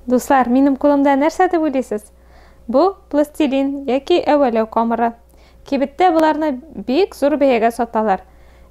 Дуслар, минем кулымда нәрсә дип уйлыйсыз? Бу пластилин яки әвәләү камыры. Кибеттә боларны бик зур бәягә саталар.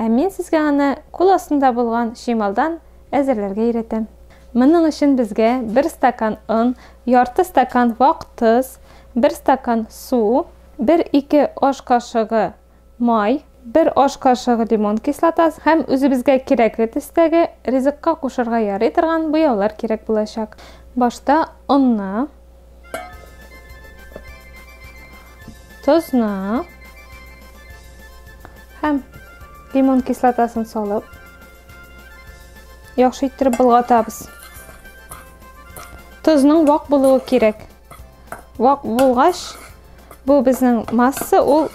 Ә мин сезгә аны кул астында булган чималдан әзерләргә өйрәтәм. Моның өчен безгә бер стакан он, ярты стакан вак тоз, бер стакан су, бер-ике аш кашыгы Май, бер аш кашыгы лимон кислотасы һәм үзебезгә кирәкле төстәге, ризыкка кушырга ярый торган буяулар кирәк булачак. Башта онны, тозны һәм лимон кислотасын салып, яхшы иттереп болгатабыз. Тозның вак булуы кирәк. Вак булгач, бу безнең масса, ул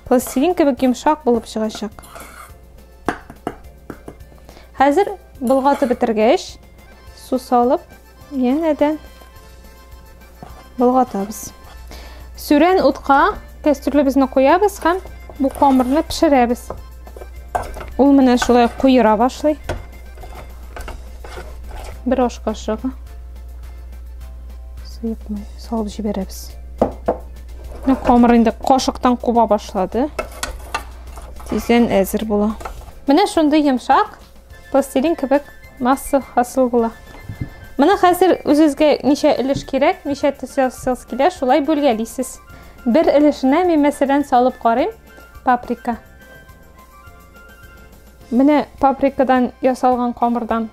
пластилин кебек йомшак булып чыгачак. Хәзер болгатып бетергәч, су салып, янәдән болгатабыз. Сүрән утка кәстрүлебезне куябыз һәм бу камырны пешерәбез. Ул менә шулай куера башлый. Бер аш кашыгы сыйпмый, салып җибәрәбез. Менә камыр инде кашыктан куба башлады. Тиздән әзер була. Менә шундый йомшак пластилин кебек масса хасыл була. Менә хәзер үзегезгә ничә өлеш кирәк, ничә төс ясагыз килә, шулай бүлгәлисез. Бер өлешенә мин мәсәлән салып карыйм. паприка менә паприкадан ясалган камырдан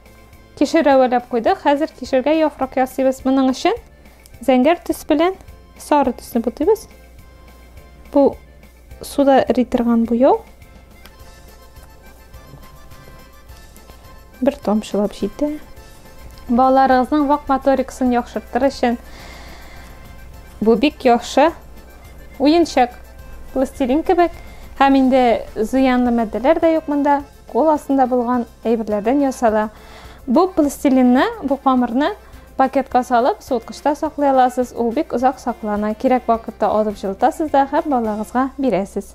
кишер әвәләп куйдык хәзер кишергә яфрак ясыйбыз моның өчен зәңгәр төс белән сары төсне бутыйбыз бу суда эри торган буяу Бер тамчылап җитә. Балаларыгызның вак моторикасын яхшыртыр өчен бу бик яхшы уенчык, пластилин кебек. Һәм инде зыянлы матдәләр дә юк монда, кул астында булган әйберләрдән ясала. Бу пластилинны, бу камырны пакетка салып, суыткычта саклый аласыз, ул бик озак саклана. Кирәк вакытта алып җылытасыз да һәм балагызга бирәсез.